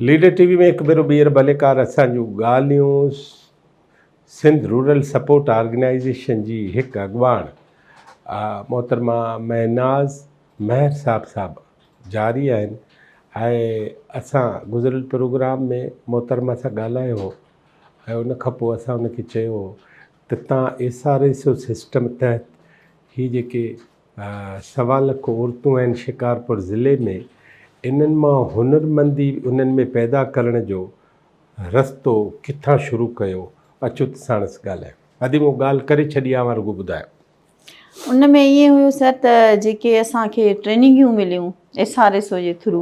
Leader T V ۾ هڪ ڀيرو ٻيهر ڀليڪار اسان جون ڳالهيون سنڌ رورل سپورٽ آرگنائيزيشن جي هڪ اڳواڻ محترمه مهناز مهر صاحب صاحب جاري آهن ۽ اسان گذريل پروگرام ۾ محترمه سان ڳالهايو هو ۽ ان کان پوء اسان ان کي چيو هو تتان S R S O system تحت هي جيڪي سوا لک عورتون آهن شڪارپور ضلعي ۾ انهن مان هنرمندي انهن ۾ پيدا ڪرڻ جو رستو ڪٿان شروع ڪيو اچو ته ساڻس ڳالهايون. ادي مون ڳالهه ڪري ڇڏي آ اوهان رڳو ٻڌايو. ان ۾ ائين هيو سر ته جيڪي اسان کي ٽريننگيون مليون ايس آر ايس او جي ٿرو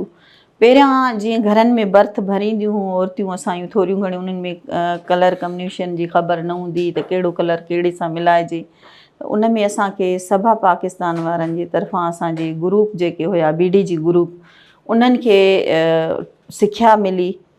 پهريان جيئن گهرن ۾ برٿ ڀرينديون هيون عورتيون اسان ٿوريون گهڻيون انهن ۾ ڪلر ڪمنيشن جي خبر نه هوندي ته ڪهڙو ڪلر ڪهڙي سان ملائجي ته ان ۾ اسان کي سڀا پاڪستان وارن جي طرفان اسانجي گروپ جيڪي هيا بي ڊي جي گروپ انهن کي سکيا ملي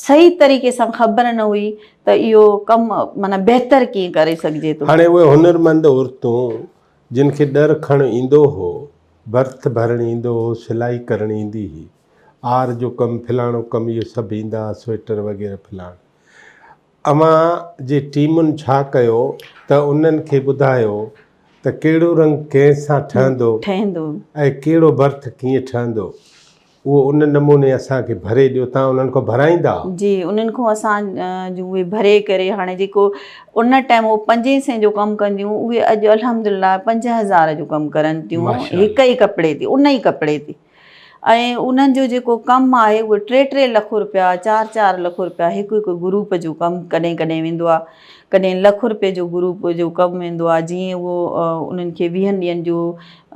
صحيح طريقي سان خبر نه هئي ته اهو ڪم معنيٰ بهتر ڪيئن ڪري سگهجي ٿو. هاڻي اهي هنرمند عورتون جن کي ڏر کڻ ايندو هو، برٿ ڀرڻ ايندو هو، سلائي ڪرڻ ايندي هئي، آر جو ڪم، فلاڻو ڪم اهي سڀ ايندا ها، سوئيٽر وغيره فلاڻ. اوهان جي ٽيمن ڇا ڪيو ته انهن کي ٻڌايو ته ڪهڙو رنگ ڪنهن سان ٺهندو ۽ ڪهڙو برٿ ڪيئن ٺهندو اهو ان نموني اسان کي ڀري ڏيو تان انهن کان ڀرائيندا آهو جي انهن کان اسان جون اهي ڀري ڪري هاڻي جيڪو ان ٽائيم هو پنجين سين جو ڪم ڪنديون اهي اڄ الحمد لله پنج هزار جو ڪم ڪرن ٿيون هڪ ئي ڪپڙي تي ان ئي ڪپڙي تي ۽ انهن جو جيڪو ڪم آهي اهو ٽي ٽي لک رپيا چار چار لک رپيا هڪ هڪ گروپ جو ڪم ڪڏهن ڪڏهن ويندو آهي ڪڏهن لک رپيي جو گروپ جو ڪم ويندو آهي جيئن اهو انهن کي ويهن ڏينهن جو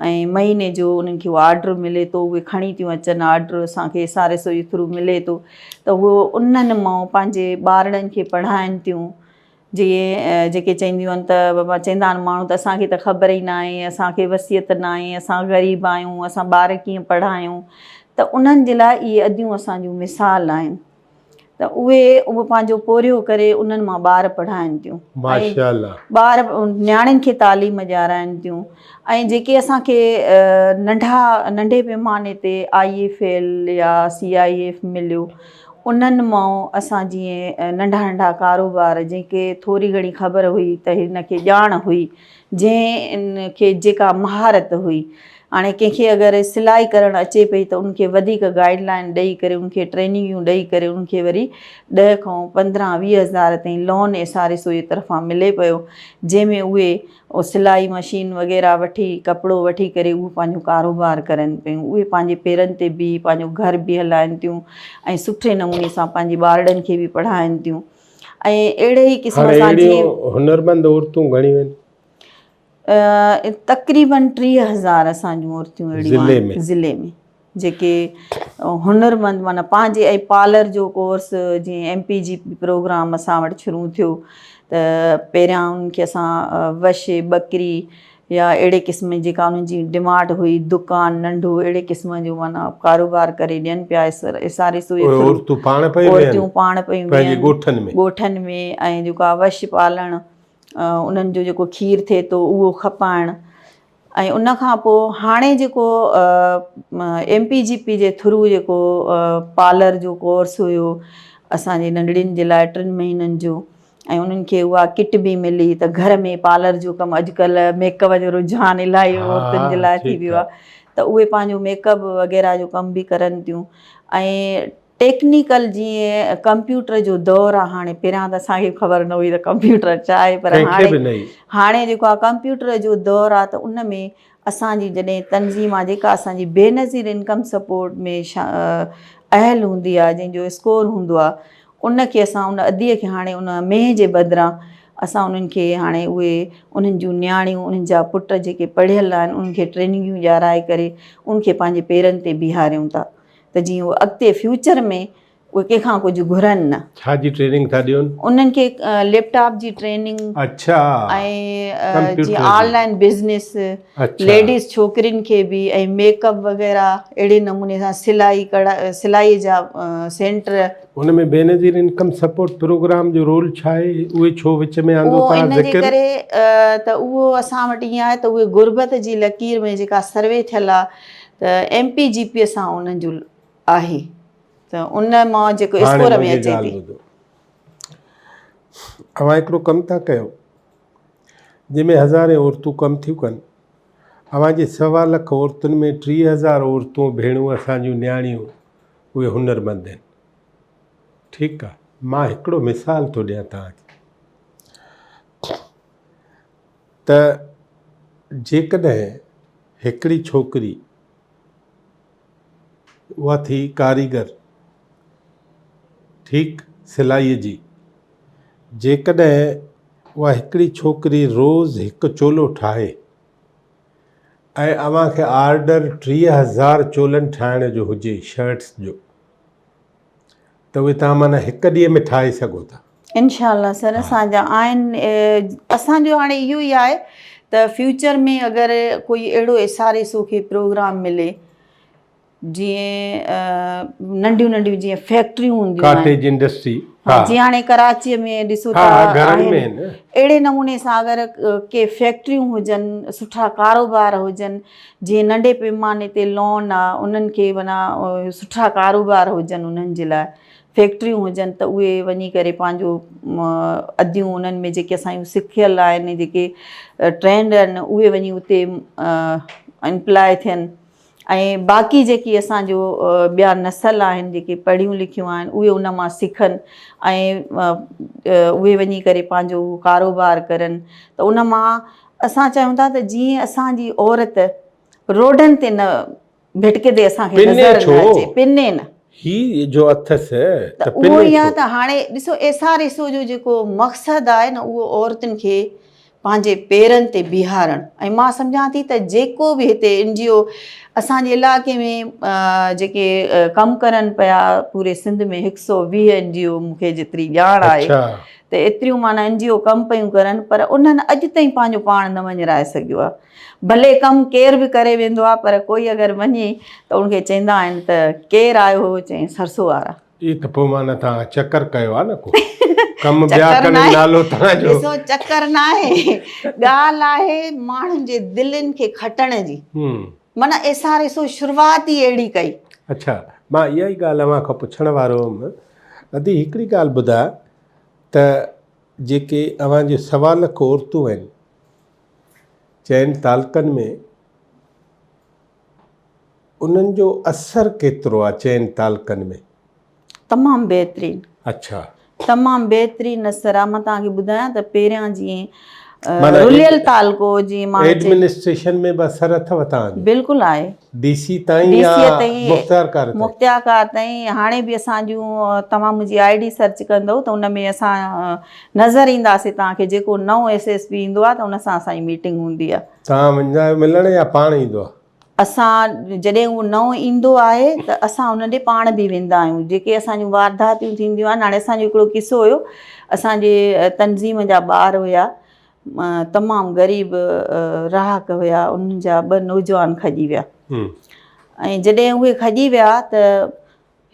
۽ مهيني جو انهن کي اهو آرڊر ملي ٿو اهي کڻي ٿيون اچن آرڊر اسان کي ايس آر ايس او جي ٿرو ملي ٿو ته اهو انهن مان پنهنجي ٻارڙن کي پڙهائن ٿيون جيئي جيڪي چئنديون آهن ته بابا چئندا آهن ماڻهو ته اسان کي ته خبر ئي ناهي اسان کي وصيت ناهي اسان غريب آهيون اسان ٻار ڪيئن پڙهايون ته انهن جي لاء اهي اديون اسان جون مثال آهن ته اهي اهو پنهنجو پورهيو ڪري انهن مان ٻار پڙهائن ٿيون ۽ ٻار نياڻين کي تعليم ڏيارائن ٿيون ۽ جيڪي اسان کي ننڍا ننڍي پئماني تي آئي اي فيل يا سي آئي ايف مليو انهن مان اسان جيئن ننڍا ننڍا ڪاروبار جنهن کي ٿوري گهڻي خبر هئي ته هن کي ڄاڻ هئي جنهن کي جيڪا مهارت هئي هاڻي ڪنهن کي اگر سلائي ڪرڻ اچي پئي ته ان کي وڌيڪ گائيڊ لائين ڏئي ڪري ان کي ٽريننگيون ڏئي ڪري ان کي وري ڏهه کان پندرهن ويهه هزار تائين loan S R S O جي طرفان ملي پيو جنهن ۾ اهي او سلائي مشين وغيره وٺي ڪپڙو وٺي ڪري اهو پنهنجو ڪاروبار ڪرن پيون اهي پنهنجي پيرن تي بيهي پنهنجو گهر به هلائن ٿيون ۽ سٺي نموني سان پنهنجي ٻارڙن کي به پڙهائن ٿيون ۽ اهڙي ئي قسم سان جيئن هنرمند عورتون گهڻيون آهن تقريبن ٽيهه هزار اسان جون عورتون اهڙيون آهن ضلعي ۾ جيڪي هنر مند معنيٰ پنهنجي ۽ پارلر جو ڪورس جيئن M P G P programme اسان وٽ شروع ٿيو ته پهريان انهن کي اسان وش ٻڪري يا اهڙي قسم جيڪا انهن جي ڊماٽ هئي دڪان ننڍو اهڙي قسم جو معنيٰ ڪاروبار ڪري ڏين پيا اساري سوئي ٿرو عورتون پاڻ پيون ويهن عورتون پاڻ پيون ويهن پنهنجي ڳوٺن ۾ ڳوٺن ۾ ۽ جيڪو آهي وش پالڻ انهن جو جيڪو کير ٿئي ٿو اهو کپائڻ ۽ ان کان پوء هاڻي جيڪو ايم پي جي پي جي ٿرو جيڪو پارلر جو ڪورس هيو اسان جي ننڍڙين جي لاء ٽن مهينن جو ۽ انهن کي اها ڪٽ به ملي ته گهر ۾ پارلر جو ڪم اڄ ڪلهه ميڪ اپ جو رجحان الاهي عورتن جي لاء ٿي ويو آهي ته اهي پنهنجو ميڪ اپ وغيره جو ڪم به ڪرن ٿيون ۽ ٽيڪنيڪل جيئن ڪمپيوٽر جو دور آ هاڻي پهريان ته اسان کي خبر نه هئي ته ڪمپيوٽر ڇا آهي پر هاڻي هاڻي جيڪو آ ڪمپيوٽر جو دور آ ته ان ۾ اسان جي جڏهن تنظيم آ جيڪا اسان جي بي نظير انڪم سپورٽ ۾ اهل هوندي آ جنهن جو اسڪور هوندو آ ان کي اسان ان ادي کي هاڻي ان مينهن جي بدران اسان انهن کي هاڻي اهي انهن جون نياڻيون انهن جا پٽ جيڪي پڙهيل آهن انهن کي ٽريننگيون ڏيارائي ڪري ان کي پنهنجي پيرن تي بيهاريون ٿا ته جيئن اهي اڳتي فيوچر ۾ اهي ڪنهن کان ڪجهه گهرن نه. ڇا جي ٽريننگ ٿا ڏين؟ انهن کي ليپ ٽاپ جي ٽريننگ اڇا ۽ جيئن آن لائن بزنس اڇا ليڊيز ڇوڪرين کي به ۽ ميڪ اپ وغيره اهڙي نموني سان سلائي ڪڙا سلائي جا سينٽر ان ۾ بينظير انڪم سپورٽ پروگرام جو رول ڇا آهي اهي ڇو وچ ۾ آندو اهو ان جي ڪري ته اهو اسان وٽ ائين آهي ته اهي غربت جي لڪير ۾ جيڪا سروي ٿيل آهي ته ايم پي جي پي سان انهن جو آهي ته ان مان جيڪو اسڪور ۾ اچي ٿي. اوهان هڪڙو ڪم ٿا ڪيو جنهن ۾ هزارين عورتون ڪم ٿيون ڪن. اوهان جي سوا لک عورتن ۾ ٽيهه هزار عورتون ڀيڻون اسان جون نياڻيون اهي هنرمند آهن. ٺيڪ آهي. مان هڪڙو مثال ٿو ڏيان توهان کي. ته جيڪڏهن هڪڙي ڇوڪري اها ٿي ڪاريگر ٺيڪ سلائيء جي، جيڪڏهن اها هڪڙي ڇوڪري روز هڪ چولو ٺاهي ۽ اوهان کي آرڊر ٽيهه هزار چولن ٺاهڻ جو هجي شرٽس جو، ته اهي توهان معنيٰ هڪ ڏينهن ۾ ٺاهي سگهو ٿا. انشاء الله سر اسان جا آهن اسان جو هاڻي اهو ئي آهي ته فيوچر ۾ اگر ڪوئي اهڙو ايس آر ايس او کي پروگرام ملي جيئن ننڍيون ننڍيون جيئن فيڪٽريون هونديون آهن ڪاٽيج انڊسٽري جي هاڻي ڪراچي ۾ ڏسو ٿا اهڙي نموني سان اگر ڪي فيڪٽريون هجن سٺا ڪاروبار هجن جيئن ننڍي پيماني تي لون آ انهن کي معنيٰ سٺا ڪاروبار هجن انهن جي لاء فيڪٽريون هجن ته اهي وڃي ڪري پنهنجو اديون انهن ۾ جيڪي اسان جون سکيل آهن جيڪي ٽرينڊ آهن اهي وڃي اتي امپلاء ٿين ۽ باقي جيڪي اسان جو ٻيا نسل آهن جيڪي پڙهيون لکيون آهن اهي ان مان سکن ۽ اهي وڃي ڪري پنهنجو ڪاروبار ڪرن ته ان مان اسان چاهيون ٿا ته جيئن اسان جي عورت روڊن تي نه ڀٽڪندي اسان کي نظر نه اچي، پني نه. هي جو اٿس ته پني ڇو؟ اهو ئي آهي ته هاڻي ڏسو ايس آر ايس او جو جيڪو مقصد آهي نه اهو عورتن کي پنهنجي پيرن تي بيهارڻ ۽ مان سمجهان ٿي ته جيڪو به هتي اين جي او اسان جي علائقي ۾ جيڪي ڪم ڪرن پيا پوري سنڌ ۾ هڪ سؤ ويهه اين جي او مون کي جيتري ڄاڻ آهي ته ايتريون معنيٰ اين جي او ڪم پيون ڪرن پر انهن اڄ تائين پنهنجو پاڻ نه وڃرائي سگهيو آهي. ڀلي ڪم ڪير به ڪري ويندو آهي پر ڪوئي اگر وڃي ته ان کي چئندا آهن ته ڪير آيو هو چئين سرسو وارا. اي ته پوء معنيٰ توهان چڪر ڪيو آهي نه ڪو ڪم ٻيا ڪن نالو توهان جو. ڏسو چڪر ناهي ڳالهه آهي ماڻهن جي دلين کي کٽڻ جي معنيٰ ايس آر ايس او شروعات ئي اهڙي ڪئي. اڇا مان اها ئي ڳالهه اوهان کان پڇڻ وارو هوم ادي هڪڙي ڳالهه ٻڌاء ته جيڪي اوهان جي سوا لک عورتون آهن چئن تعلقن ۾ انهن جو اثر ڪيترو آ چئن تعلقن ۾. تمام بهترين. اڇا. تمام بهترين اثر آ مان توهان کي ٻڌايان ته پهريان جيئن رليل تعلقو جي ماڻهن جي ايڊمنسٽريشن ۾ به اثر اٿو تان جو بلڪل آهي ڊي سي تائين يا مختيار ڪار تائين مختيار ڪار تائين هاڻي به اسان جون توهان منهنجي آئي ڊي سرچ ڪندو ته ان ۾ اسان نظر اينداسي توهان کي جيڪو نئون ايس ايس پي ايندو آهي ته ان سان اسان جي ميٽنگ هوندي آهي توهان ويندا آهيو ملڻ يا پاڻ ايندو آهي اسان جڏهن اهو نئون ايندو آهي ته اسان ان ڏي پاڻ به ويندا آهيون جيڪي اسان جون وارداتيون ٿينديون آهن هاڻي اسان جو هڪڙو قصو هيو اسان جي تنظيم جا ٻار هيا تمام غريب رهاڪ هيا انهن جا ٻه نوجوان کڄي ويا ۽ جڏهن اهي کڄي ويا ته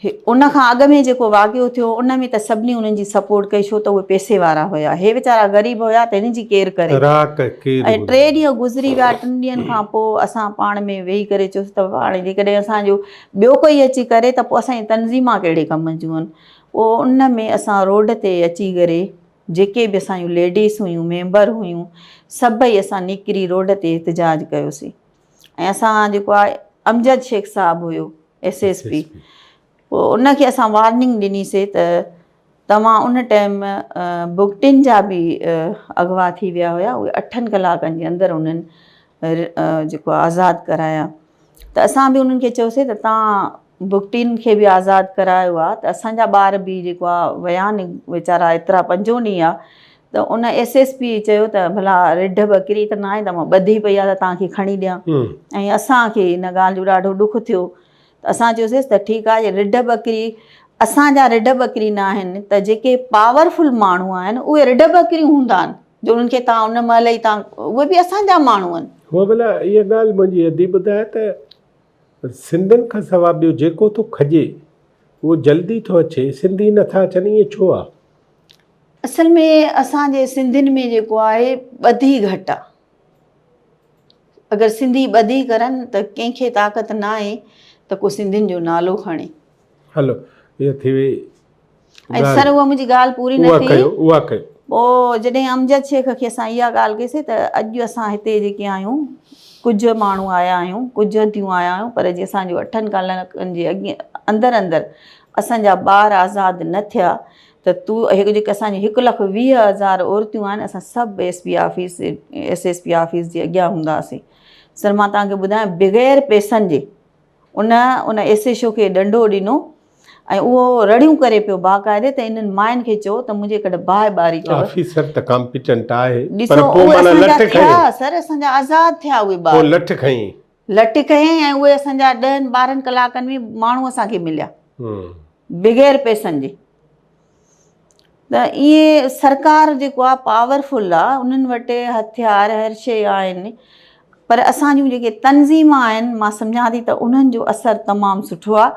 ان کان اڳ ۾ جيڪو واقعو ٿيو ان ۾ ته سڀني انهن جي سپورٽ ڪئي ڇو ته اهي پئسي وارا هيا هي ويچارا غريب هيا ته هن جي ڪير ڪري ۽ ٽي ڏينهن گذري ويا ٽن ڏينهن کان پوء اسان پاڻ ۾ ويهي ڪري چيوسي ته هاڻي جيڪڏهن اسان جو ٻيو ڪوئي اچي ڪري ته پوء اسان جي تنظيمان ڪهڙي ڪم جون آهن پوء ان ۾ اسان روڊ تي اچي ڪري جيڪي به اسان جون ليڊيز هيون ميمبر هيون سڀئي اسان نڪري روڊ تي احتجاج ڪيوسي ۽ اسان جيڪو آهي امجد شيخ صاحب هيو ايس ايس پي پوء ان کي اسان وارننگ ڏني سي ته توهان ان ٽائيم بگٽين جا به اغوا ٿي ويا هيا اهي اٺن ڪلاڪن جي اندر انهن جيڪو آهي آزاد ڪرايا ته اسان به انهن کي چيوسي ته توهان بگٽين کي به آزاد ڪرايو آهي ته اسان جا ٻار به جيڪو آهي ويا ني ويچارا ايترا پنجون ڏينهن آهي ته ان ايس ايس پي چيو ته ڀلا رڍ ٻڪري ته ناهي ته مان ٻڌي پئي آهي ته توهان کي کڻي ڏيان ۽ اسان کي ان ڳالهه جو ڏاڍو ڏک ٿيو ته اسان چيوسيس ته ٺيڪ آهي جي رڍ ٻڪري اسان جا رڍ ٻڪري نه آهن ته جيڪي پاور فل ماڻهو آهن اهي رڍ ٻڪريون هوندا آهن جو انهن کي توهان ان مهل ئي توهان اهي به اسان جا ماڻهو آهن هو ڀلا اها ڳالهه منهنجي ادي ٻڌايا ته سنڌين کان سواء ٻيو جيڪو ٿو کڄي اهو جلدي ٿو اچي سنڌي نٿا اچن ائين ڇو آهي؟ اصل ۾ اسان جي سنڌين ۾ جيڪو آهي ٻڌي گهٽ آ اگر سنڌي ٻڌي ڪرن ته ڪنهن کي طاقت نه آهي ته ڪو سنڌين جو نالو کڻي هلو هي ٿي وئي ۽ سر اها منهنجي ڳالهه پوري نه ٿي اها ڪيو پوء جڏهن امجد شيخ کي اسان اها ڳالهه ڪيسي ته اڄ اسان هتي جيڪي آهيون ڪجهه ماڻهو آيا آهيون ڪجهه هنديون آيا آهيون پر جي اسان جو اٺن ڪالڪن جي اندر اندر اسان جا ٻار آزاد نه ٿيا ته تو جيڪي اسان جون هڪ لک ويهه هزار عورتون آهن اسان سڀ S P office S S P office جي اڳيان هونداسين سر مان توهان کي ٻڌايان بغير پيسن جي ان ان ايس ايس او کي ڏنڊو ڏنو ۽ اهو رڙيون ڪري پيو باقاعدي ته انهن ماين کي چئو ته منهنجي ڪڍ باهه ٻاري ڪيو آفيسر ته ڪامپيٽنٽ آهي پر پوء معنيٰ لٺ کڻي سر اسان جا آزاد ٿيا اهي ٻار پوء لٺ کڻي لٽ ڪيائين ۽ اهي اسان جا ڏهن ٻارهن ڪلاڪن ۾ ماڻهو اسان کي مليا بغير پئسن جي ته اهي سرڪار جيڪو آهي پاورفل آهي انهن وٽ هٿيار هر شيء آهن پر اسان جون جيڪي تنظيم آهن مان سمجهان ٿي ته انهن جو اثر تمام سٺو آهي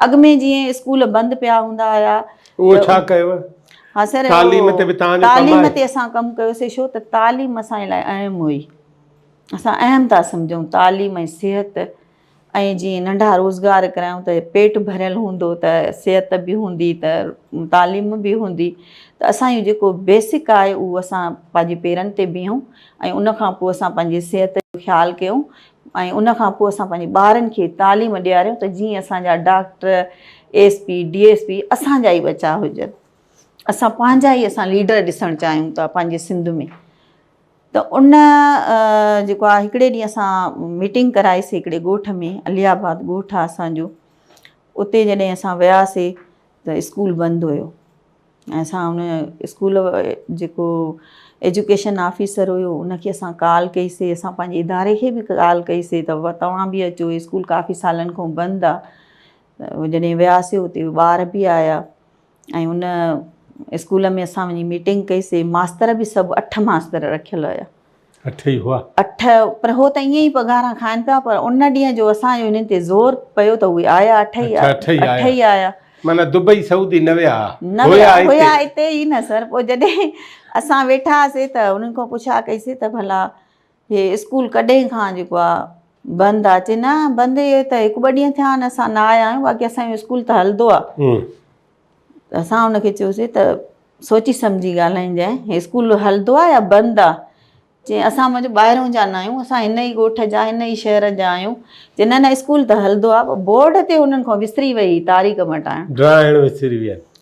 اڳ ۾ جيئن اسڪول بند پيا هوندا هيا اهو ڇا ڪيو ها سر تعليم تي به تعليم تي اسان ڪم ڪيوسي شو ته تعليم اسان لاء اهم هئي اسان اهم ٿا سمجهون تعليم ۽ صحت ۽ جي ننڍا روزگار ڪرايون ته پيٽ ڀريل هوندو ته صحت به هوندي ته تعليم به هوندي ته اسان جو جيڪو بيسڪ آهي اهو اسان پنهنجي پيرن تي بيهون ۽ ان کان پوء اسان پنهنجي صحت جو خيال ڪيون ۽ ان کان پوء اسان پنهنجي ٻارن کي تعليم ڏياريون ته جيئن اسان جا doctor S P D S P اسان جا ئي ٻچا هجن اسان پنهنجا ئي اسان ليڊر ڏسڻ چاهيون ٿا پنهنجي سنڌ ۾ ته ان جيڪو آهي هڪڙي ڏينهن اسان ميٽنگ ڪرائي سي هڪڙي ڳوٺ ۾ علي آباد ڳوٺ آهي اسان جو اتي جڏهن اسان ويا سي ته اسڪول بند هيو ۽ اسان ان اسڪول جيڪو ايجوڪيشن آفيسر هيو ان کي اسان ڪال ڪئي سي اسان پنهنجي اداري کي به ڪال ڪئي سي ته توهان به اچو اسڪول ڪافي سالن کان بند آهي جڏهن ويا سي اتي ٻار به آيا ۽ ان اسڪول ۾ اسان وڃي ميٽنگ ڪئي سي ماستر به سڀ اٺ ماستر رکيل هيا اٺ ئي هئا اٺ پر هو ته ائين ئي پگهارا کائن پيا پر ان ڏينهن جو اسان جو انهن تي زور پيو ته اهي آيا اٺ ئي اٺ ئي آيا معنی دبئي سعودي نه ويا نه ويا هيا هتي ئي نه سر پوء جڏهن اسان ويٺا هئاسي ته انهن کان پڇا ڪئي سي ته ڀلا هي اسڪول ڪڏهن کان جيڪو آ بند آ چي نه بند هي ته هڪ ٻه ڏينهن ٿيا آهن اسان نه آيا آهيون باقي اسان جو اسڪول ته هلندو آ اسان هن کي چيوسي ته سوچي سمجهي ڳالهائينجانء هي اسڪول هلندو آ يا بند آ چي اسان منهنجو ٻاهرون جا نه آهيون اسان هن ئي ڳوٺ جا هن ئي شهر جا آهيون چي نه نه اسڪول ته هلندو آ بورڊ تي هنن کان وسري وئي هي تاريخ مٽائڻ ڊراهڻ وسري ويا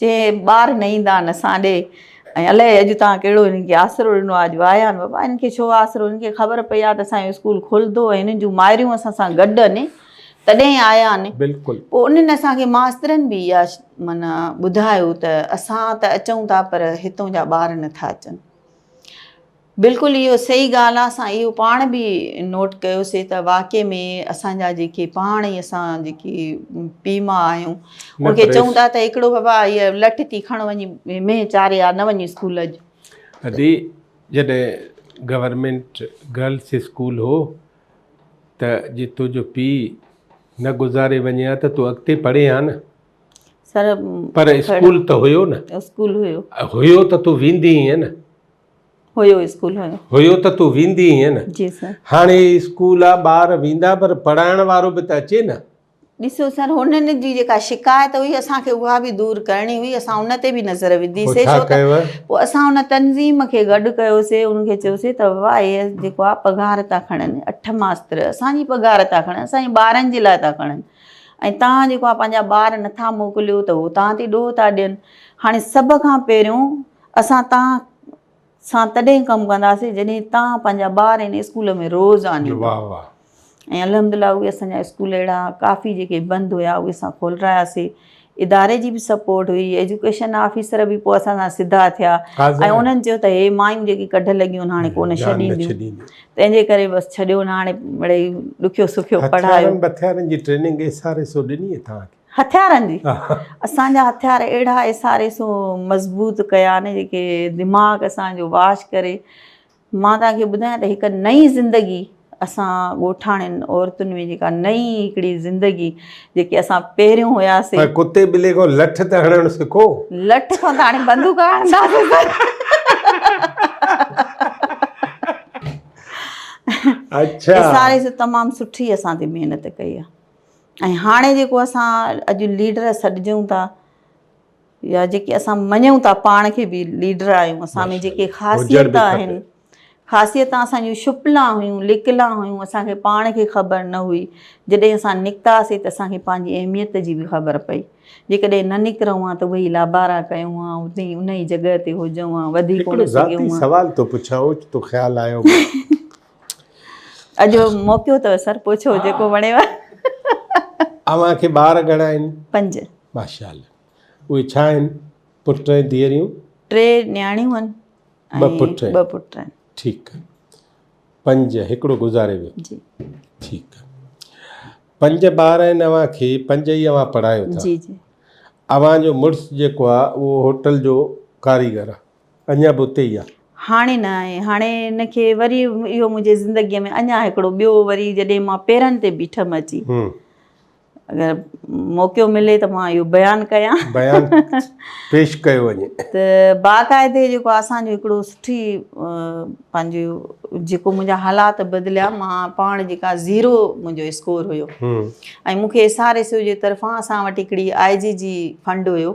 چي ٻار نه ايندا آهن اسان ڏي ۽ الائي اڄ تان ڪهڙو هنن کي آسرو ڏنو آهي اڄ وايا آهن بابا هنن کي ڇو آسرو هنن کي خبر پئي آهي ته اسان جو اسڪول کلندو ۽ هنن جون مائريون اسان سان گڏ آهن تڏهن آيا آهن بلڪل پوء انهن اسان کي ماسترن به اها معنيٰ ٻڌايو ته اسان ته اچون ٿا پر هتون جا ٻار نه ٿا اچن بلڪل اهو صحيح ڳالهه آهي اسان اهو پاڻ به نوٽ ڪيوسي ته واقعي ۾ اسان جا جيڪي پاڻ ئي اسان جيڪي پي ما آهيون ان کي چون ٿا ته هڪڙو بابا هي لٺ ٿي کڻ وڃي مينهن چاري آ نه وڃي اسڪول اڄ ادي جڏهن گورنمنٽ گرلس اسڪول هو ته جي تو جو پي نه گذاري وڃي ها ته تو اڳتي پڙهي ها نه سر پر اسڪول ته هيو نه اسڪول هيو هيو ته تو ويندي هي نه هيو اسڪول هيو هيو ته تون ويندي هئين نه جي سر هاڻي اسڪول آ ٻار ويندا پر پڙهائڻ وارو به ته اچي نه ڏسو سر هنن جي جيڪا شڪايت هئي اسان کي اها به دور ڪرڻي هئي اسان ان تي به نظر وڌي سي ڇا ڪيو پوء اسان ان تنظيم کي گڏ ڪيو سي ان کي چيو سي ته واء ايس جيڪو آ پگهار ٿا کڻن اٺ ماستر اسان جي پگهار ٿا کڻن اسان جي ٻارن جي لاء ٿا کڻن ۽ تان جيڪو آ پنهنجا ٻار نٿا موڪليو ته هو تان تي ڏوهه ٿا ڏين هاڻي سڀ کان پهريون اسان توهان سان تڏهن ڪم ڪنداسين جڏهن توهان پنهنجا ٻار هن اسڪول ۾ روز آڻيندا. واهه واهه. ۽ الحمدلله اهي اسان جا اسڪول اهڙا ڪافي جيڪي بند هيا اهي اسان کولراياسين. اداري جي به سپورٽ هئي ايجوڪيشن آفيسر به پوء اسان سان سڌا ٿيا ۽ انهن چيو ته هي مايون جيڪي ڪڍ لڳيون هاڻي ڪونه ڇڏينديون تنهنجي ڪري بس ڇڏيو نه هاڻي مڙئي ڏکيو سکيو پڙهايو. هٿيارن بٿيارن جي training S R S O ڏني هئي توهان کي؟ هٿيارن جي اسان جا هٿيار اهڙا ايسار ايسو مضبوط ڪيا نه جيڪي دماغ اسان جو واش ڪري مان توهان کي ٻڌايان ته هڪ نئي زندگي اسان ڳوٺاڻين عورتن ۾ جيڪا نئي هڪڙي زندگي جيڪي اسان پهريون هياسي ڪتي ٻلي کان لٺ ته هڻڻ سکو لٺ کان ته هاڻي بندوق هڻنداسي اچھا ايسار ايسو تمام سٺي اسان تي محنت ڪئي آ ۽ هاڻي جيڪو اسان اڄ ليڊر سڏجون ٿا يا جيڪي اسان مڃون ٿا پاڻ کي به ليڊر آهيون اسان ۾ جيڪي خاصيت آهن خاصيت اسان جون شپلا هيون لڪلا هيون اسانکي پاڻ کي خبر نه هئي جڏهن اسان نڪتاسي ته اسانکي پنهنجي اهميت جي به خبر پئي جيڪڏهن نه نڪرون ها ته وهي لابارا ڪيون ها اتي انهي جڳهه تي هجون ها وڌي ڪونه سگهيون ها سوال ٿو پڇان اوچتو خيال آيو اڄ موقعو اٿو سر پڇو جيڪو وڻيو اوهان کي ٻار گهڻا آهن پنج ماشاءالله اهي ڇا آهن پٽ ۽ ڌيئريون ٽي نياڻيون آهن ٻه پٽ ۽ ٻه پٽ آهن ٺيڪ آهي پنج هڪڙو گذاري ويو جي ٺيڪ آهي پنج ٻار آهن اوهان کي پنج ئي اوهان پڙهايو ٿا جي جي اوهان جو مڙس جيڪو آهي اهو هوٽل جو ڪاريگر آهي اڃا به اتي ئي آ. هاڻي نه آهي. هاڻي هن کي وري اهو منهنجي زندگيء ۾ اڃا هڪڙو ٻيو وري جڏهن مان پيرن تي بيٺم اچي اگر موقعو ملي ته مان اهو بيان ڪيان. بيان پيش ڪيو وڃي. ته باقاعدي جيڪو اسان جو هڪڙو سٺي پنهنجي جيڪو منهنجا حالات بدليا مان پاڻ جيڪا زيرو منهنجو اسڪور هيو ۽ مون کي ايس آر ايس او جي طرفان اسان وٽ هڪڙي آء جي جي فنڊ هيو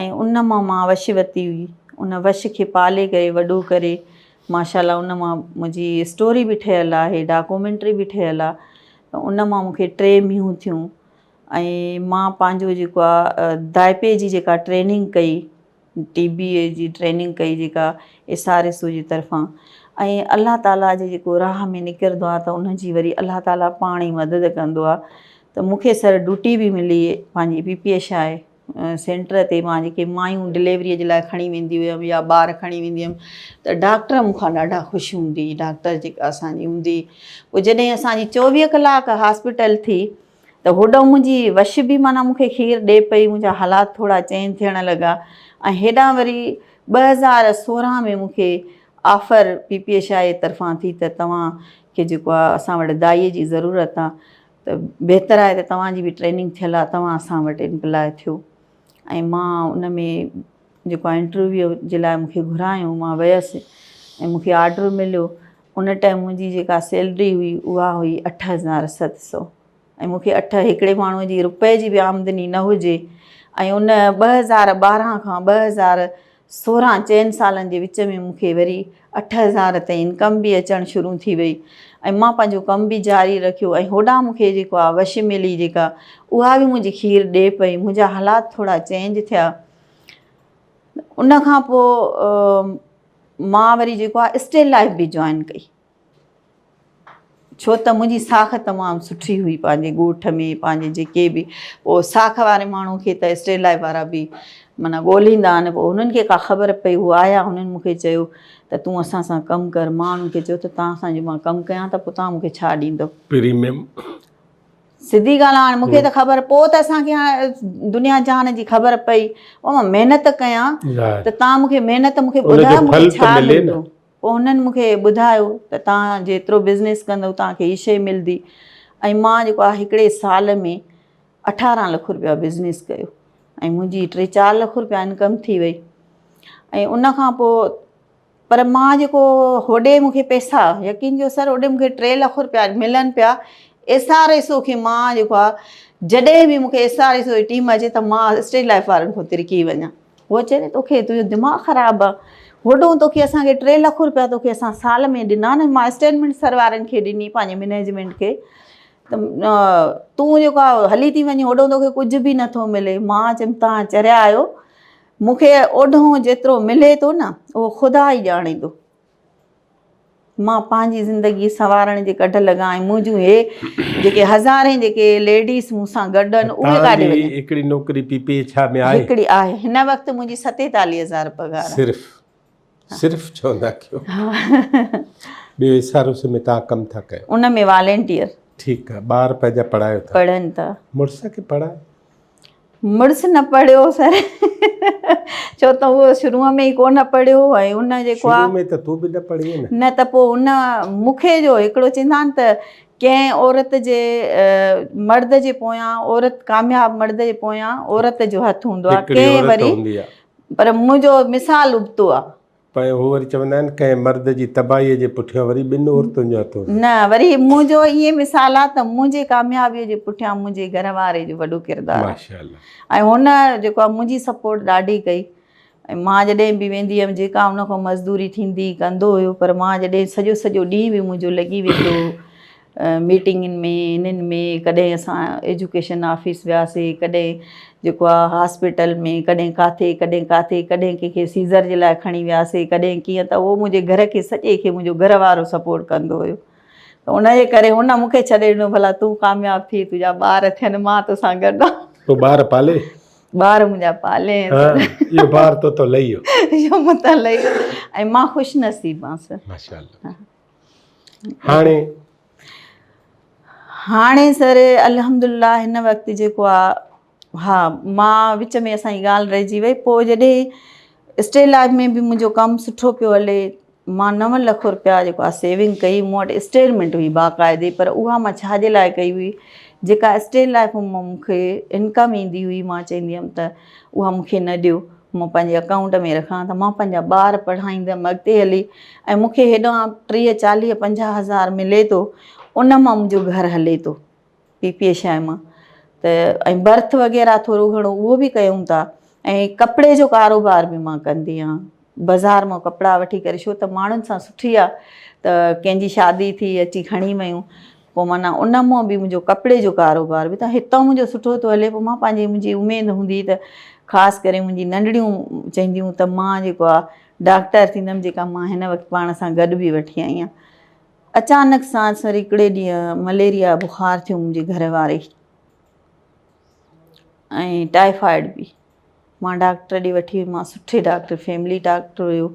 ۽ ان مان مان وش وتي هئي ان وش کي پالي ڪري وڏو ڪري ماشاالله ان مان منهنجي اسٽوري به ٺهيل آهي ڊاڪومينٽري به ٺهيل آهي ته ان مان مونکي ٽي مينهون ٿيون ۽ مان پنهنجو جيڪو آهي دائپي جي جيڪا ٽريننگ ڪئي ٽي بي اي جي ٽريننگ ڪئي جيڪا ايس آر ايس او جي طرفان ۽ الله تعالي جي جيڪو راهه ۾ نڪرندو آهي ته ان جي وري الله تعالي پاڻ ئي مدد ڪندو آهي ته مونکي سر ڊوٽي به ملي پنهنجي P P H I centre تي مان جيڪي مايون ڊليوريء جي لاء کڻي ويندي هيم يا ٻار کڻي ويندي هيم ته ڊاڪٽر مون کان ڏاڍا خوش هوندي هئي ڊاڪٽر جيڪا اسان جي هوندي پوء جڏهن اسان جي چوويهه ڪلاڪ هاسپيٽل ٿي ته هوڏانهن منهنجي وش به معنيٰ مون کي کير ڏئي پئي منهنجا حالات ٿورا چينج ٿيڻ لڳا ۽ هيڏانهن وري ٻه هزار سورهن ۾ مون کي offer P P H I اي طرفان ٿي ته توهان کي جيڪو آهي اسان وٽ دائيء جي ضرورت آهي ته بهتر آهي ته توهان جي به ٽريننگ ٿيل آهي توهان اسان وٽ امپلاء ٿيو ۽ مان ان ۾ جيڪو آهي انٽرويو جي لاء مون کي گهرايو مان ويس ۽ مون کي آرڊر مليو ان ٽائيم منهنجي جيڪا سيلري هئي اها هئي اٺ هزار ست سو ۽ مون کي اٺ هڪڙي ماڻهو جي روپئي جي به آمدني نه هجي ۽ ان ٻه هزار ٻارهن کان ٻه هزار سورهن چئن سالن جي وچ ۾ مون کي وري اٺ هزار تائين انڪم به اچڻ شروع ٿي وئي ۽ مان پنهنجو ڪم به جاري رکيو ۽ هوڏانهن مون کي جيڪو آ وشي ملي جيڪا اها به منهنجي کير ڏي پئي منهنجا حالات ٿورا چينج ٿيا ان کان پوء مان وري جيڪو آ اسٽيل لائف به جوائن ڪئي ڇو ته منهنجي ساک تمام سٺي هئي پنهنجي ڳوٺ ۾ پنهنجي جيڪي به پوء ساک واري ماڻهو کي ته اسٽيلائي وارا به معنيٰ ڳولهيندا آهن پوء هنن کي ڪا خبر پئي هو آيا هنن مون کي چيو ته تون اسان سان ڪم ڪر مان هنن کي چيو ته تان سان جو مان ڪم ڪيان ته پوء تان مون کي ڇا ڏيندو پريميم سڌي ڳالهه هاڻ مون کي ته خبر پوء ته اسان کي هاڻ دنيا جهان جي خبر پئي پوء مان محنت ڪيان ته تان مون کي محنت مون کي ٻڌاء مون کي ڇا ملندو پوء هنن مون کي ٻڌايو ته توهان جيترو بزنيس ڪندو توهان کي هي شيء ملدي ۽ مان جيڪو آهي هڪڙي سال ۾ اٺارهن لک رپيا بزنيس ڪيو ۽ منهنجي ٽي چار لک رپيا انڪم ٿي وئي ۽ ان کان پوء پر مان جيڪو هوڏي مون کي پئسا يقين ڪيو سر هوڏي مون کي ٽي لک رپيا ملن پيا ايس آر ايس او کي مان جيڪو آهي جڏهن به مون کي ايس آر ايس او جي ٽيم اچي ته مان اسٽيج لائف وارن کان ترڪي وڃان هوء چئي ته توکي تنهنجو دماغ خراب آ وڏون توکي اسان کي ٽي لک روپيا توکي اسان سال ۾ ڏنا نه مان اسٽيلمينٽ سر وارن کي ڏني پنهنجي مينيجمينٽ کي ته تون جيڪا هلي ٿي وڃي هوڏون توکي ڪجهه به نٿو ملي مان چيم تان چريا آهيو مونکي اوڍون جيترو ملي ٿو نه اهو خدا ئي ڄاڻيندو. مان پنهنجي زندگي سنوارڻ جي ڪڍ لڳا ۽ منهنجون هي جيڪي هزارين جيڪي ليڊيز مون سان گڏ آهن اهي ڪاڏي وڃن توهان جي هڪڙي نوڪري پي پي ايڇ آر ۾ آهي هڪڙي آهي هن وقت منهنجي ستيتاليهه هزار پگهار آهي صرف صرف چوندا ڪيو ٻيو ايس آر اوس ۾ توهان ڪم ٿا ڪيو ان ۾ والينٽيئر ٺيڪ آهي ٻار پنهنجا پڙهايو ٿا پڙهن ٿا مڙس کي پڙهايو مڙس نه پڙهيو سر ڇو ته هو شروع ۾ ئي ڪونه پڙهيو ۽ ان جيڪو آ شروع ۾ ته تو به نه پڙهي نه نه ته پوء ان مونکي جو هڪڙو چيندا آهن ته ڪنهن عورت جي مرد جي پويان عورت ڪامياب مرد جي پويان عورت جو هٿ هوندو آ ڪنهن وري پر منهنجو مثال ابتو آ پوء هو وري چوندا آهن ڪنهن مرد جي تباهيء جي پٺيان وري ٻن عورتن جو هٿ هوندو. نه وري منهنجو ائين مثال آهي ته منهنجي ڪاميابيء جي پٺيان منهنجي گهر واري جو وڏو ڪردار آهي ۽ هن جيڪو آهي منهنجي سپورٽ ڏاڍي ڪئي ۽ مان جڏهن به ويندي هيم جيڪا هن کان مزدوري ٿيندي هئي ڪندو هيو پر مان جڏهن سڄو سڄو ڏينهن به منهنجو لڳي ويندو هو ميٽنگن ۾ انهن ۾ ڪڏهن اسان ايجوڪيشن آفيس وياسي ڪڏهن جيڪو آ هاسپيٽل ۾ ڪڏهن ڪاٿي ڪڏهن ڪاٿي ڪڏهن ڪنهن کي سيزر جي لاء کڻي وياسي ڪڏهن ڪيئن ته اهو منهنجي گهر کي سڄي کي منهنجو گهر وارو سپورٽ ڪندو هيو ته ان جي ڪري هن مون کي ڇڏي ڏنو ڀلا تون ڪامياب ٿي تنهنجا ٻار ٿين مان توسان گڏ آ تو ٻار پالي ٻار منهنجا پالي اهو بار تو تون لهيو اهو مون تان لهيو ۽ مان خوش نصيب آ سر ماشاء الله هاڻي هاڻي سر الحمدلله هن وقت جيڪو آهي ها مان وچ ۾ اسان جي ڳالهه رهجي وئي پوء جڏهن اسٽي لائف ۾ به منهنجو ڪم سٺو پيو هلي مان نو لک روپيا جيڪو آهي سيونگ ڪئي مون وٽ اسٽيلمنٽ هئي باقاعدي پر اها مان ڇا جي لاء ڪئي هئي جيڪا اسٽي لائف مون کي انڪم ايندي هئي مان چوندي هيم ته اها مون کي نه ڏيو، مان پنهنجي اڪائونٽ ۾ رکان ته مان پنهنجا ٻار پڙهائيندم اڳتي هلي ۽ مون کي هيڏانهن ٽيهه چاليهه پنجاهه هزار ملي ٿو ان مان منهنجو گهر هلي ٿو پي پي شاهه مان ته ۽ برٿ وغيره ٿورو گهڻو اهو به ڪيون ٿا ۽ ڪپڙي جو ڪاروبار به مان ڪندي آهيان بازار مان ڪپڙا وٺي ڪري شو ته ماڻهن سان سٺي آهي ته ڪنهنجي شادي ٿي اچي کڻي ويون پوء معنيٰ ان مون به منهنجو ڪپڙي جو ڪاروبار به ته هتان منهنجو سٺو ٿو هلي، پوء مان پنهنجي منهنجي اميد هوندي ته خاص ڪري منهنجي ننڍڙيون چونديون ته مان جيڪو آ ڊاڪٽر ٿيندم جيڪا مان هن وقت پاڻ سان گڏ به وٺي آئي آهيان. اچانڪ سان سر هڪڙي ڏينهن مليريا بخار ٿيو منهنجي گهر واري کي ۽ ٽائيفائيڊ به. مان ڊاڪٽر ڏي وٺي ويم مان سٺي ڊاڪٽر فيملي ڊاڪٽر هيو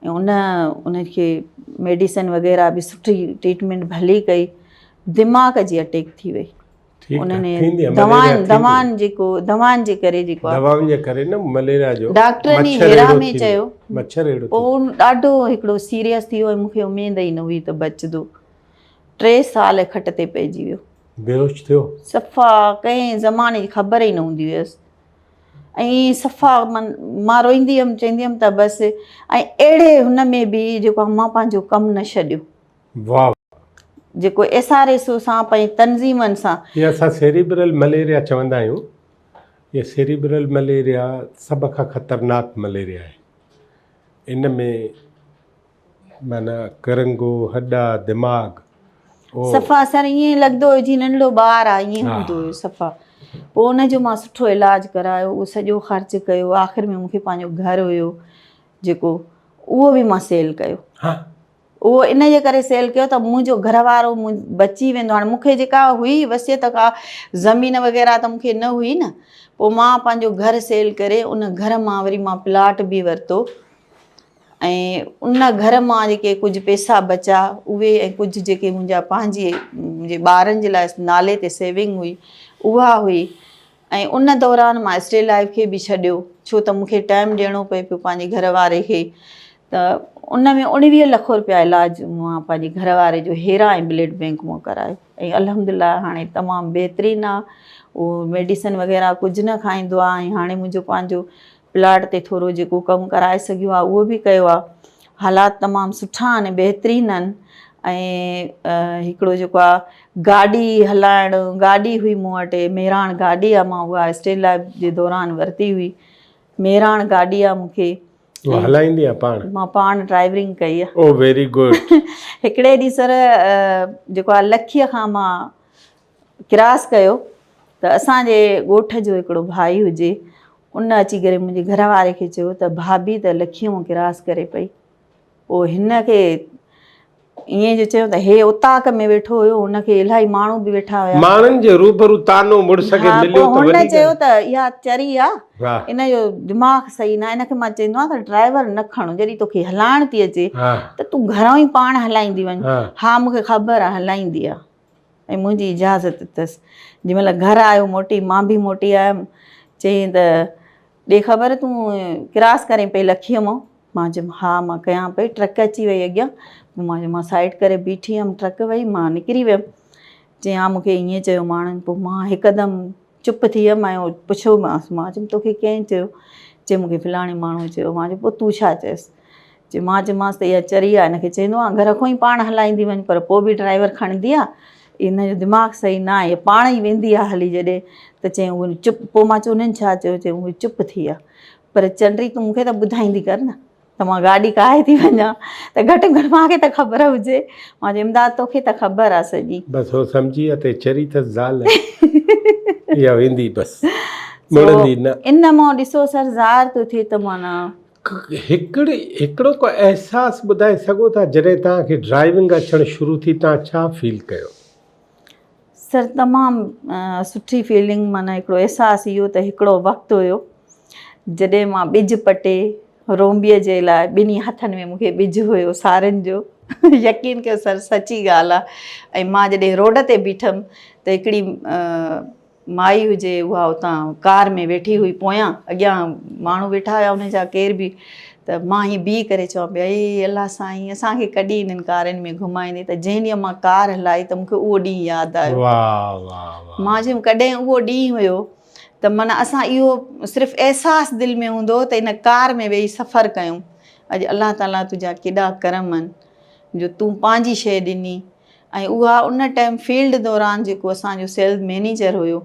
۽ ان ان کي ميڊيسن وغيره به سٺي ٽريٽمينٽ ڀلي ڪئي دماغ جي اٽيڪ ٿي وئي دوائن جيڪو دوائن جي ڪري جيڪو دوائن جي ڪري نه مليريا جو ڊاڪٽر ني هيرا ۾ چيو مڇر اهڙو ٿيو ان ڏاڍو هڪڙو سيريس ٿيو ۽ مونکي اميد ئي نه هئي ته بچدو ٽي سال کٽ تي پئجي ويو بيهوش ٿيو؟ صفا ڪنهن زماني جي خبر ئي نه هوندي هيس ۽ صفا من مان روئيندي هيم چوندي هيم ته بس ۽ اهڙي هن ۾ به جيڪو مان پنهنجو ڪم نه ڇڏيو واهه جيڪو ايس آر ايس او سان پنهنجي تنظيمن سان هي اسان سيريبرل مليريا چوندا آهيون هي سيريبرل مليريا سڀ کان خطرناڪ مليريا آهي ان ۾ معنيٰ ڪرنگهو، هڏا، دماغ. صفا سر ائين لڳندو هيو جيئن ننڍڙو ٻار آ ائين هوندو هيو صفا پوء ان جو مان سٺو علاج ڪرايو اهو سڄو خرچ ڪيو آخر ۾ مون کي پنهنجو گهر هيو جيڪو اهو به مان سيل ڪيو اهو ان جي ڪري سيل ڪيو ته منهنجو گهر وارو بچي ويندو هاڻي مون کي جيڪا هئي وصيت ڪا زمين وغيره ته مون کي نه هئي نه پوء مان پنهنجو گهر سيل ڪري ان گهر مان وري مان پلاٽ به ورتو ۽ ان گهر مان جيڪي ڪجهه پئسا بچا اهي ۽ ڪجهه جيڪي منهنجا پنهنجي منهنجي ٻارن جي لاء نالي تي سيونگ هئي اها هئي ۽ ان دوران مان اسٽيل لائف کي به ڇڏيو ڇو ته مونکي ٽائم ڏيڻو پئي پيو پنهنجي گهر واري کي ته ان ۾ اڻويهه لک روپيا علاج مان پنهنجي گهر واري جو هيرا ۽ بلڊ بينڪ مان ڪرايو ۽ الحمد لله هاڻي تمام بهترين آ اهو ميڊيسن وغيره ڪجهه نه کائيندو آ ۽ هاڻي منهنجو پنهنجو پلاٽ تي ٿورو جيڪو ڪم ڪرائي سگهيو آهي اهو به ڪيو آهي حالات تمام سٺا آهن بهترين آهن ۽ هڪڙو جيڪو آهي گاڏي هلائڻ گاڏي هئي مون وٽ مهراڻ گاڏي آهي مان اها اسٽيل لائف جي دوران ورتي هئي مهراڻ گاڏي آهي مونکي تون هلائيندي آهي پاڻ مان پاڻ ڊرائيورنگ ڪئي آهي او ويري گڊ هڪڙي ڏينهن سر جيڪو آهي لکيء کان مان ڪراس ڪيو ته اسان جي ڳوٺ جو هڪڙو ڀائي هجي ان اچي ڪري منهنجي گهر واري کي چيو ته ڀاڀي ته لکيون ڪراس ڪري پئي پوء هن کي ائين جو چيو ته هي اوطاق ۾ ويٺو هيو هن کي الاهي ماڻهو به ويٺا هيا ماڻهن جي روبرو طعنو مڙس کي مليو ته وڏي ڳالهه هن چيو ته اها چري آ ان جو دماغ صحيح نه ان کي مان چيندو آهيان ته ڊرائيور نه کڻ جڏهن توکي هلائڻ ٿي اچي ته تون گهران ئي پاڻ هلائيندي وڃ ها مون کي خبر آ هلائيندي آ. ۽ منهنجي اجازت ڏتس. جنهن مهل گهر آيو موٽي، مان به موٽي آيم. چيائين ته، ڏي خبر تون ڪراس ڪرين پئي لکيء مان؟ مان چيم، ها مان ڪيان پئي، ٽرڪ اچي وئي اڳيان. پوء مان چيم، مان سائيڊ ڪري بيٺي هيم، ٽرڪ وئي، مان نڪري ويم. چيائين، ها مون کي ائين چيو ماڻهن. پوء مان هڪدم چپ ٿي ويم ۽ پڇيومانس مان چيم توکي ڪنهن چيو؟ چي مون کي فلاڻي ماڻهوء چيو. مان چيم پوء تون ڇا چيس؟ چي مان چيمانس ته اها چري آهي هن کي چئي ڏنو آهي گهر کان ئي پاڻ هلائيندي وڃ پر پوء به ڊرائيور کڻندي آهي هن جو دماغ صحيح نه آهي پاڻ ئي ويندي آهي هلي جڏهن ته چيائين هو چپ پوء مان چيم انهن ڇا چيو؟ چيائين اهي چپ ٿي ويا پر چنڊي تون مون کي ته ٻڌائيندي ڪر نه. ته مان گاڏي ڪاهي ٿي وڃان ته گهٽ ۾ گهٽ مان کي ته خبر هجي. مان چيو امداد تو کي ته خبر آ سڄي. بس هو سمجهي اتي چري ٿس زال اها ويندي بس مڙندي نه. ان مون ڏسو سر ظاهر ٿو ٿئي ته معنيٰ. هڪڙ هڪڙو ڪو احساس ٻڌائي سگهو ٿا جڏهن توهان کي ڊرائيونگ اچڻ شروع ٿي توهان ڇا فيل ڪيو. سر تمام سٺي فيلنگ معنيٰ هڪڙو احساس اهو ته هڪڙو وقت هيو جڏهن مان ٻج پٽي رومبي جي لاء ٻنهي هٿن ۾ مون کي ٻج هيو سارين جو يقين ڪيو سر سچي ڳالهه آهي ۽ مان جڏهن روڊ تي بيٺم ته هڪڙي مائي هجي اها اتان ڪار ۾ ويٺي هئي پويان اڳيان ماڻهو ويٺا هيا ان جا ڪير به ته مان هي بيهي ڪري چوان پي اي الله سائين اسان کي ڪڏي انهن ڪارن ۾ گهمائيندي ته جنهن ڏينهن مان ڪار هلائي ته مون کي اهو ڏينهن ياد آيو مان چيم ڪڏهن اهو ڏينهن هيو ته معنيٰ اسان اهو صرف احساس دل ۾ هوندو هو ته ان ڪار ۾ ويهي سفر ڪيون اڄ الله تعاليٰ تنهنجا ڪيڏا ڪرم آهن جو تون پنهنجي شيء ڏني ۽ اها ان ٽائيم فيلڊ دوران جيڪو اسان جو سيلز مينيجر هيو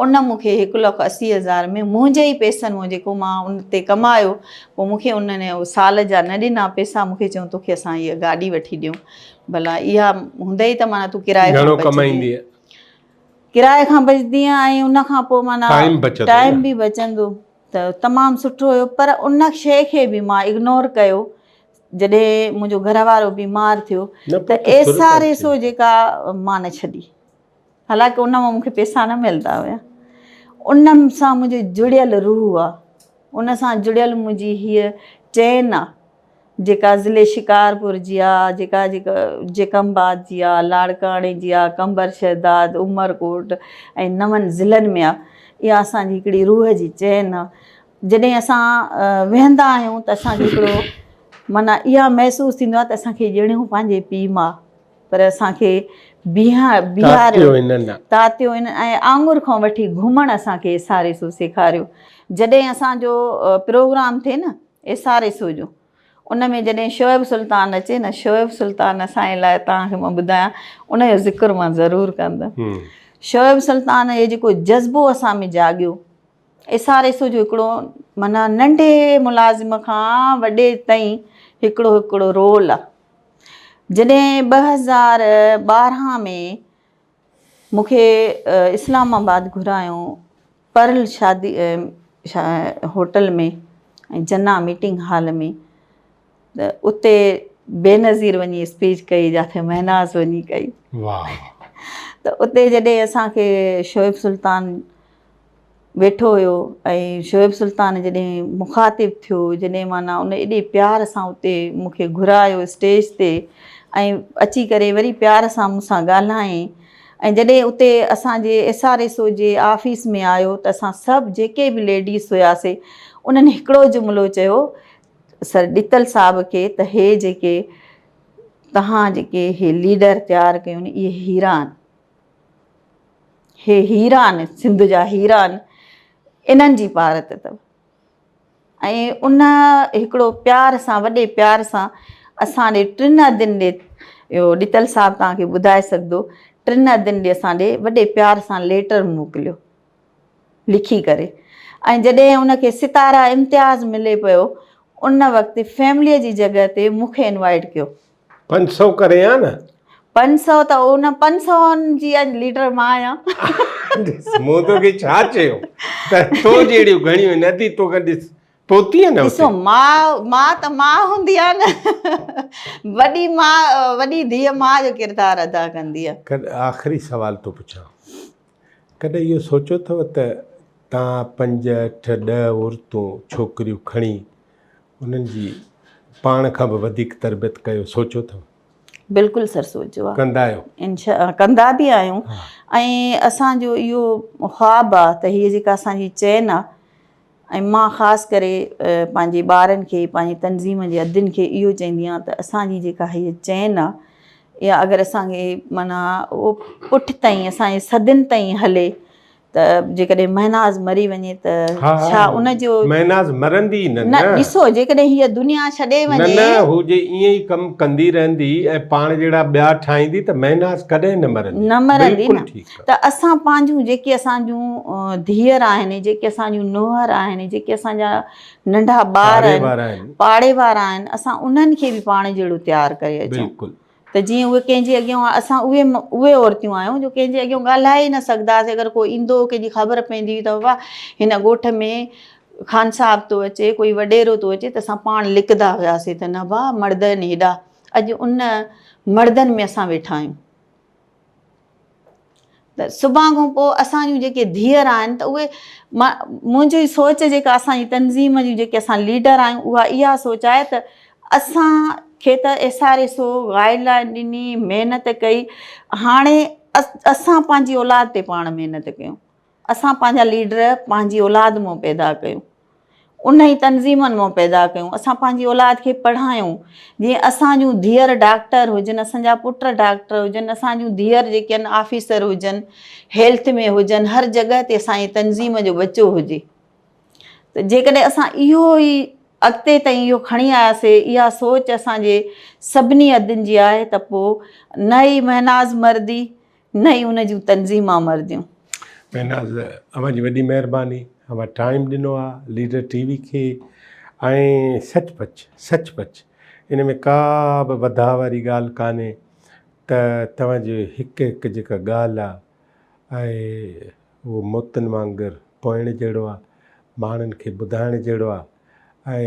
ان مون کي هڪ لک اسي هزار ۾ منهنجي ئي پيسن مون جيڪو مان ان تي ڪمايو پوء مون کي ان ني سال جا نه ڏنا پيسا مون کي چيو تو کي اسان هيء گاڏي وٺي ڏيون ڀلا اها هوندئي ته معنيٰ تون ڪرايي کان بچندي ڪرايي کان بچندي ۽ ان کان پوء معنيٰ ٽائيم به بچندو ته تمام سٺو هيو پر ان شيء کي به مان اگنور ڪيو جڏهن منهنجو گهر وارو بيمار ٿيو ته ايس آر ايس او جيڪا مان نه ڇڏي حالانڪه ان مان مونکي پيسا نه ملندا هيا ان سان منهنجو جڙيل روح آ ان سان جڙيل منهنجي هي چين آ جيڪا ضلع شڪارپور جي آ جيڪا جيڪا جيڪم آباد جي آ لاڙڪاڻي جي آ قمبر شهداد عمرڪوٽ ۽ نون ضلعن ۾ آ اها اسان جي هڪڙي روح جي چين آ جڏهن اسان ويهندا آهيون ته اسان کي هڪڙو معنيٰ اها محسوس ٿيندو آهي ته اسان کي ڄڻ هو پنهنجي پيء ماء پر اسان کي بيهاريو، تاتيو هنن ۽ آڱر کان وٺي گهمڻ اسان کي ايس آر ايس او سيکاريو. جڏهن اسان جو پروگرام ٿئي نه ايس آر ايس او جو ان ۾ جڏهن شعيب سلطان اچي نه شعيب سلطان اسان جي لاء توهان کي مان ٻڌايان ان جو ذڪر مان ضرور ڪندم شعيب سلطان جو جيڪو جذبو اسان ۾ جاڳيو. ايس آر ايس او جو هڪڙو معنيٰ ننڍي ملازم کان وڏي تائين هڪڙو هڪڙو رول آ. جڏهن ٻه هزار ٻارهن ۾ مون کي اسلام آباد گهرايو پرل شادي هوٽل ۾ ۽ جناح ميٽنگ هال ۾. ته اتي بينظير وڃي اسپيچ ڪئي جاٿي مهناز وڃي ڪئي ته اتي جڏهن اسانکي شعيب سلطان ويٺو هيو ۽ شعيب سلطان جڏهن مخاطب ٿيو جڏهن معنيٰ ان ايڏي پيار سان اتي مونکي گهرايو اسٽيج تي ۽ اچي ڪري وري پيار سان مون سان ڳالهائين ۽ جڏهن اتي اسانجي ايس آر ايس او جي آفيس ۾ آيو ته اسان سڀ جيڪي به ليڊيز هياسي انهن هڪڙو جملو چيو سر ڏتل صاحب کي ته هي جيڪي توهان جيڪي هي ليڊر تيار ڪيون اهي هيرا آهن هي هيرا آهن سنڌ جا هيرا آهن انهن جي پارت اٿو ۽ ان هڪڙو پيار سان وڏي پيار سان اسان ڏي ٽن ادين ڏي اهو ڏتل صاحب توهان کي ٻڌائي سگهندو ٽن ادين ڏي اسان ڏي وڏي پيار سان ليٽر موڪليو لکي ڪري ۽ جڏهن ان کي ستاره امتياز ملي پيو ان وقت فيمليء جي جڳهه تي مون کي انوائيٽ ڪيو. پنج سؤ ڪري ها نه. پنج سؤ ته ان پنج سوئن جي اڄ ليڊر مان آهيان. ڏس مون توکي ڇا چيو ته تو جهڙيون گهڻيون نه اٿئي تو کان ڏس پهتيئي نه اتي. ڏسو ماء ماء ته ماء هوندي آهي نه وڏي ماء وڏي ڌيء ماء جو ڪردار ادا ڪندي آهي. آخري سوال ٿو پڇان ڪڏهن اهو سوچيو اٿو ته توهان پنج، اٺ، ڏهه عورتون، ڇوڪريون، کڻي انهن جي پاڻ کان به وڌيڪ تربيت ڪيو، سوچيو اٿو؟ بلڪل سر سوچيو آهي. ڪندا آهيو؟ انشاء ڪندا به آهيون ۽ اسان جو اهو خواب آهي ته هيء جيڪا اسان جي چين آهي ۽ مان خاص ڪري پنهنجي ٻارن کي پنهنجي تنظيم جي ادين کي اهو چئندي آهيان ته اسان جي جيڪا هيء چين آهي اها اگر اسان کي معنيٰ پٺ تائين اسان جي صدين تائين هلي ته جيڪڏهن مهناز مري وڃي ته ڇا ان جو مهناز مرندي نه نه ڏسو جيڪڏهن هيء دنيا ڇڏي وڃي نه نه هو جي ائين ئي ڪم ڪندي رهندي ۽ پاڻ جهڙا ٻيا ٺاهيندي ته مهناز ڪڏهن نه مرندي نه مرندي نه ته اسان پنهنجون جيڪي اسان جون ڌيئر آهن جيڪي اسان جون نوهر آهن جيڪي اسان جا ننڍا ٻار آهن پاڙي وارا آهن اسان انهن کي به پاڻ جهڙو تيار ڪري اچون ته جيئن اهي ڪنهن جي اڳيان اسان اهي اهي عورتيون آهيون جو ڪنهن جي اڳيان ڳالهائي نه سگهنداسي اگر ڪو ايندو ڪنهن جي خبر پوندي هئي ته بابا هن ڳوٺ ۾ خان صاحب ٿو اچي ڪوئي وڏيرو ٿو اچي ته اسان پاڻ لڪندا هياسي ته نه ڀا مڙد آهن هيڏا اڄ ان مڙدن ۾ اسان ويٺا آهيون ته صبح کان پوء اسان جون جيڪي ڌيئر آهن ته اهي منهنجي سوچ جيڪا اسان جي تنظيم جون جيڪي اسان ليڊر آهيون اها اها سوچ آهي ته اسان کي ته S R S O guideline ڏني محنت ڪئي هاڻي اسان پنهنجي اولاد تي پاڻ محنت ڪيون اسان پنهنجا ليڊر پنهنجي اولاد مان پيدا ڪيون ان ئي تنظيمن مان پيدا ڪيون اسان پنهنجي اولاد کي پڙهايون جي اسان جون ڌيئر ڊاڪٽر هجن اسان جا پٽ ڊاڪٽر هجن اسان جون ڌيئر جيڪي آهن آفيسر هجن هيلٿ ۾ هجن هر جڳهه تي اسان جي تنظيم جو ٻچو هجي ته جيڪڏهن اسان اهو ئي اڳتي تائين اهو کڻي آياسي اها سوچ اسان جي سڀني عدن جي آهي ته پوء نه ئي مهناز مردي نه ئي ان جون تنظيم آمرديون. مهناز اوهان جي وڏي مهرباني اوهان ٽائيم ڏنو آ ليڊر ٽي وي کي ۽ سچ پچ سچ پچ ان ۾ ڪا به وڌاء واري ڳالهه ڪانهي ته توهان جي هڪ هڪ جيڪا ڳالهه آ اهي اهو موتن وانگر پوئڻ جهڙو آ ماڻهن کي ٻڌائڻ جهڙو آ ۽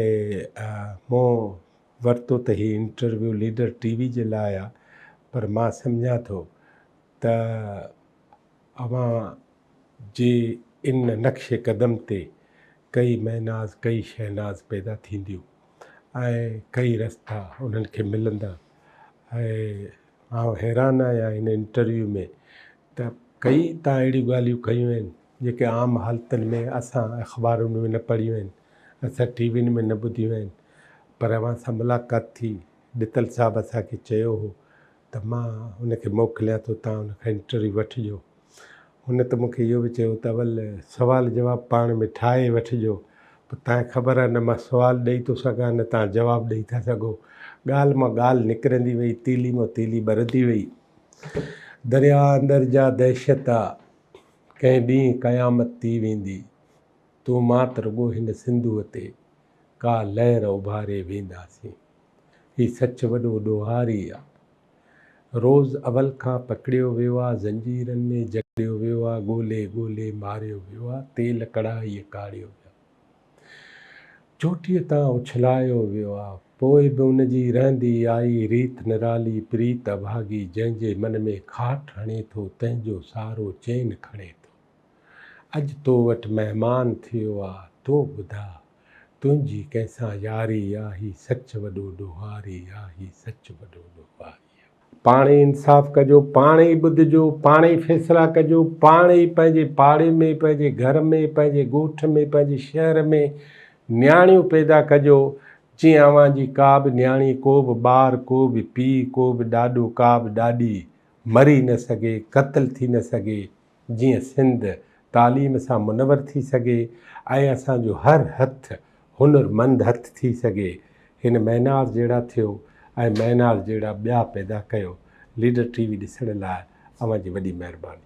مون ورتو ته هي انٽرويو ليڊر ٽي وي جي لاء آ پر مان سمجهان ٿو ته اوهان جي ان نقش قدم تي ڪئي مهناز ڪئي شهناز پيدا ٿينديون ۽ ڪئي رستا انهن کي ملندا ۽ آئون حيران آهيان ان انٽرويو ۾ ته ڪئي تان اهڙيون ڳالهيون ڪيون آهن جيڪي عام حالتن ۾ اسان اخبارن ۾ نه پڙهيون آهن، اسان ٽي وين ۾ نه ٻڌيون آهن، پر اوهان سان ملاقات ٿي، ڏتل صاحب اسان کي چيو هو ته مان ان کي موڪليان ٿو تان ان کان انٽرويو وٺجو. هن ته مون کي اهو به چيو ته اول سوال جواب پاڻ ۾ ٺاهي وٺجو، پوء تان کي خبر آهي نه مان سوال ڏئي ٿو سگهان نه تان جواب ڏئي ٿا سگهو. ڳالهه مان ڳالهه نڪرندي وئي، تيلي مان تيلي ٻرندي وئي. درياهه اندر جا دهشت آ. ڪنهن ڏينهن قيامت ٿي ويندي، تون مان ته رڳو هن سنڌوء تي ڪا لهر اڀاري وينداسين. هي سچ وڏو ڏوهاري آ. روز اول کان پڪڙيو ويو آ، زنجيرن ۾ جڪڙيو ويو آ، ڳولي ڳولي ماريو ويو آ، تيل ڪڙاهيء ڪاڙهيو ويو آ. چوٽيء تان اڇلايو ويو آ، پوء به ان جي رهندي آئي ريت نرالي پريت اڀاڳي، جنهن جي من ۾ کاٽ هڻي ٿو، تنهن جو سارو چين کڻي ٿو. اڄ تو وٽ مهمان ٿيو آ، تون ٻڌاء، تنهنجي ڪنهن سان ياري آ، هي سچ وڏو ڏوهاري آ، هي سچ وڏو ڏوهاري. پاڻ ئي انصاف ڪجو، پاڻ ئي ٻڌجو، پاڻ ئي فيصلا ڪجو، پاڻ ئي پنهنجي پاڙي ۾، پنهنجي گهر ۾، پنهنجي ڳوٺ ۾، پنهنجي شهر ۾ نياڻيون پيدا ڪجو، جيئن اوهان جي ڪا به نياڻي، ڪو به ٻار، ڪو به پيء، ڪو به ڏاڏو، ڪا به ڏاڏي مري نه سگهي، قتل ٿي نه سگهي. جيئن سنڌ تعليم سان منور ٿي سگهي ۽ اسان جو هر هٿ هنر مند هٿ ٿي سگهي. هن مينار جهڙا ٿيو ۽ مينار جهڙا ٻيا پيدا ڪيو. ليڊر ٽي وي ڏسڻ لاء اوهان جي وڏي مهرباني.